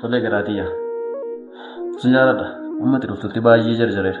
Tole garaatiya. Sin jaaladha. Amma itti dhuftutti baay'ee jarjareera.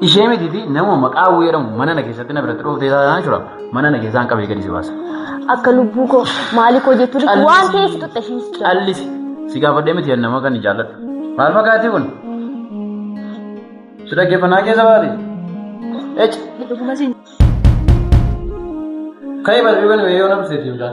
Ishee mitiiti nama maqaa hawwii jedhamu mana na keessatti na biratti dhooftee taasisaan jira. Mana na keessaan qabee gadi si baasa. Akka lubbuu koo maalii koo jettu dhiisu Callis. waan ta'eef xuxxa isheen si jaalatti. Callisi. Si gaafadhee miti nama kan hin jaalladhu. Maal fakkaatii kun? Si dhaggeeffannaa keessa baate? Ec. Dhuguma siin Ka'ee balbii kan yoo na buseetii mucaa.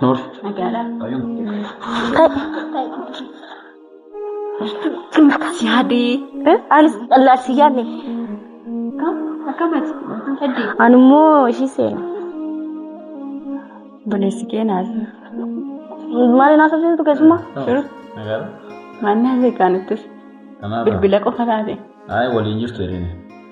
Noorsi. Si hadee. Anis dhallaa si yaadne. Akkamati. Heddii. Ani immoo ishii seena. Buleessi keenaas. Maali naaf saseentu keessumaa? Shiru. Nagaadha. Maannaa beekaan ittis. Kanaaf. Bilbila qofa taate. Ayi waliin jirtu jedhani.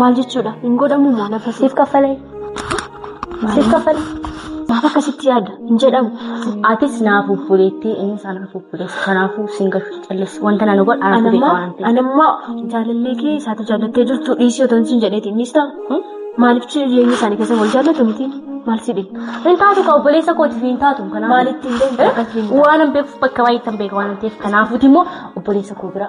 Maal jechuudha? Hin godhamu moo lafa siif kaffalee? Siif kaffalee? Maaf akkasitti yaada? Hin jedhamu. Atis naa fuffuleettee inni isaa naa fuffuleessa. Kanaafuu siin galchu callis. Wanta nana godha anaaf beeka Anammaa waan ta'eef. anammaa jaalallee kee isaati jaallattee jirtu dhiisii otoo siin jedheeti innis ta'a. Maaliif jireenya isaanii keessa wal jaallatu miti? Maal si dhibe? Hin taatu ka obboleessa kootiif hin taatu. Kanaaf Maalitti hin deemtu? Waan hin beekuuf bakka baay'eetti hin beeka waan ta'eef. Kanaafuu immoo obboleessa koo bira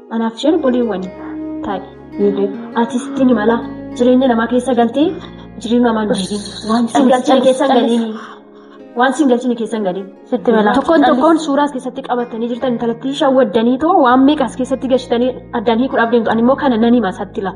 Anaaf isheen obboleewwani taa'e. Ati sitti ni mala jireenya namaa keessa galtee jireenya namaa hin diigin. Waan sin galchine keessa hin galin. Waan sin galchine keessa hin galin. Sitti mala. Tokkoon tokkoon suuraa as keessatti qabatanii jirtan intalattii shawwaddanii too waan meeqa as keessatti gashitanii addaan hiikuudhaaf deemtu. Ani immoo kana nan hima isatti laa.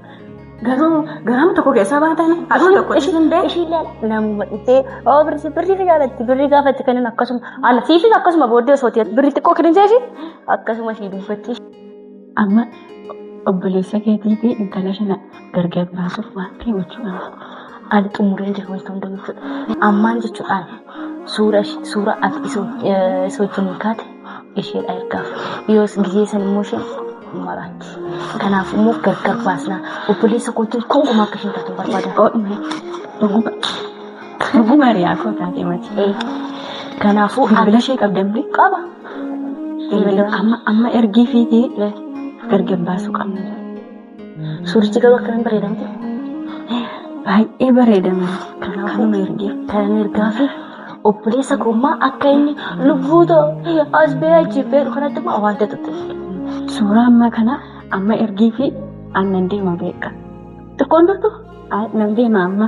Garuu garaama tokko keessaa baatan haadhuma tokko ishiin bee. Ishiillee namuma dhufee oo birri birri fi jaalatti birri gaafatti kennan akkasuma ala siifis akkasuma booddee osoo ta'e birri xiqqoo kennan jeefi akkasuma sii dubbatti. Amma obboleessa keetii fi intala shana gargar baasuuf waan ta'e gochuu qaba. Ani xumuree jiru wantoota hundumtuu. Ammaan jechuudhaan suura suura ati isa wajjin kaate isheedha ergaaf yoos gizee san immoo isheen maraatti kanaaf immoo gargar baasnaa obboleessa kootiin konkumaa akka isheen taatu barbaada dhuguma dhuguma hiriyaa koo taatee mati kanaafuu bilbila ishee qabdamne qaba amma amma ergii fiitee gargar baasuu qabna Suurichi garuu akkamiin bareeda miti? Baay'ee bareedama. Kanaafuu ergee kanan ergaa fi obboleessa koo immoo akka inni lubbuu too as bee achi beeku kanatti immoo waan ta'utti. Suuraa ammaa kana amma ergii fi aannan deema beeka. Xiqqoon turtu nan deema amma.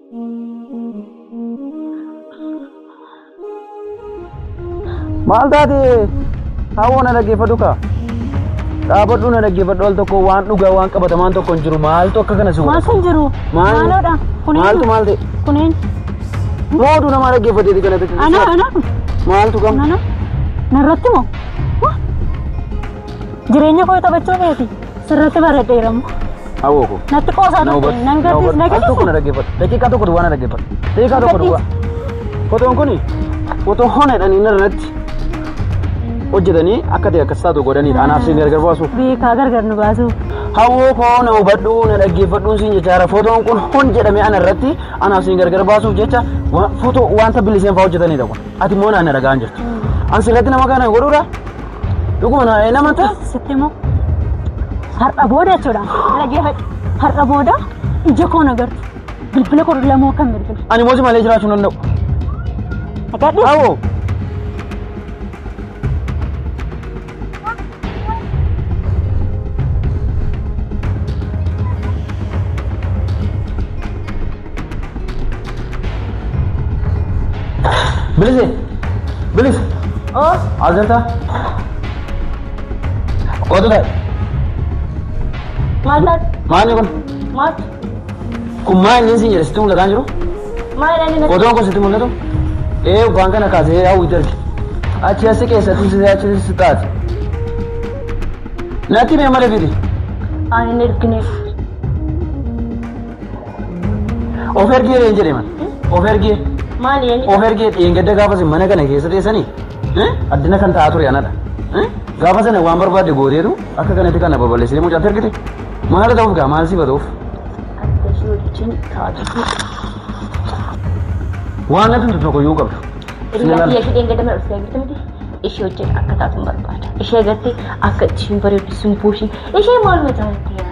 Maal taate hawoo na dhaggeeffadhu kaa. Dhaabadhu na dhaggeeffadhu al tokko waan dhugaa waan qabatamaan tokko hin jiru maaltu akka kana si godha. Maal kan jiru? Maal- Maaloodha. Kuneen. Maaltu maal ta'e? Kuneen. Moodu namaa dhaggeeffateeti kana ta'e. Ana ana Maaltu gam? ana. Narratti moo? Jireenya koo taphachuu keeti sirratti baradheera moo. Hawoo koo. Natti qoosaa Na hubadhu. turte nan Na hubadhu. gadhiis na Al tokko na gadhiisa. dhaggeeffadhu. Daqiiqaa tokko duwwaa na dhaggeeffadhu. Daqiiqaa tokko duwwaa. Fotoon kuni fotoo hona jedhanii irratti hojjetanii akka ta'e akkas taatu godhaniidha. Anaaf siin gargar baasuuf. Beekaa gargar nu baasuuf. Hawoo koo na hubadhu na dhaggeeffadhuun siin jechaara. Fotoon kun hon jedhamee ana irratti anaaf siin gargar baasuuf jecha wa- fotoo wanta biliseen fa'aa hojjetaniidha kun. Ati immoo naan na dhaga'aa jirtu. An sirratti nama kana godhuudha. Dhuguma na hin amantaa? Sitti moo har'a booda jechuudha. Dhaggeeffadhu. Har'a booda ija koo na gartu. Bilbila koo lamoo kan bilbila. Ani moosi malee jiraachuu hin danda'u. Agadhu. Awoo. Bilise! Bilise! As jirtaa? Kootu ta'e. Maal taate? Maanni kun? Maal? Kun maa inni siin jedhe sitti mul'ataa hin jiru? Maal jedhanii na Otoon kun sitti mul'atu? Ee waan kana kaasee hawwitti arge. Achi asi keessatti si achi si taate. Natti mee mala fidi. Ani hin ergineef. Of ergee reen jedhe man. Of ergee. Maali eenyu? Of ergee dheengadda gaafa sin mana kana keessa teessanii addina kan ta'aa ture anadha. Gaafa sana waan barbaadde gooteetu akka kanatti kana babal'isee mucaatti ergite. Maal ta'uuf gaa maal sifa ta'uuf? Adda ishee wajjin taa'atu. Waan natti hin tokko yoo qabdu. Hiriyaa biyya ishee dheengadda mana dhuftee jirti miti. Ishee wajjin akka taatu hin barbaada. Ishee agartee akka isheen bareeddu simboo ishee. Ishee maaluma jaalatti yaa?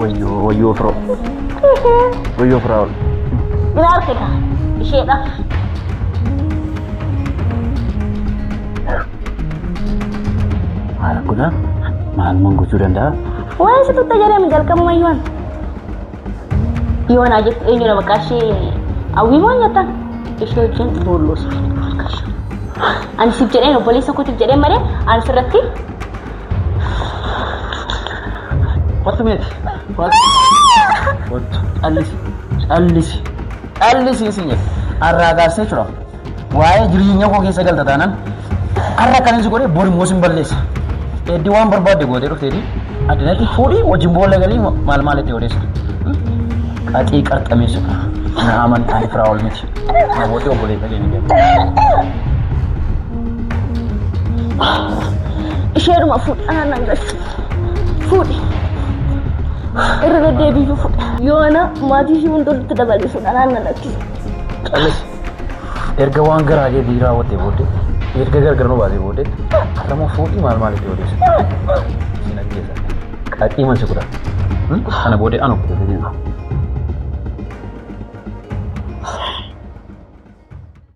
Wayyoo wayyoo firoo. Wayyoo firaa ol. Ni argita isheedhaaf. Maal godhaa? Maal man gochuu danda'a? Waa'ee isa tuttaa jedhame jalqabuma yoon. Yoon haa jettu eenyudha maqaa ishee hawwii moo nyaatan ishee wajjin boolloos. Ani siif jedheen obboleessa kootiif jedheen malee ani sirratti Kottu meeti. Kottu. Kottu. Callisi. Callisi. Callisi isin jedhe. Arraa gaasee jira. Waa'ee jireenya koo keessa galta taanaan arra kan inni si godhe bor immoo sin balleessa. Eddi waan barbaadde gootee dhufteeti. Addinatti fuudhii wajjin boolla galii maal maal itti odeessa. Qaxii qarxameessu. Na amantaan firaa ol miti. Namooti obboleessa keenya jedhamu. Isheedhuma fuudhaan nan galchu. Fuudhi. Irra deddeebiyyuu fuudha. Yoo ana maatii ishee hunda walitti dabalee fuudhaan nan lakkisa. Callis erga waan garaa keetii raawwattee booddee erga gargar nu baasee booddee har'a immoo fuudhii maal maalitti odeessa. Siin ajjeesa. Qaxii man si godha. Kana booda ana kutu fedhina.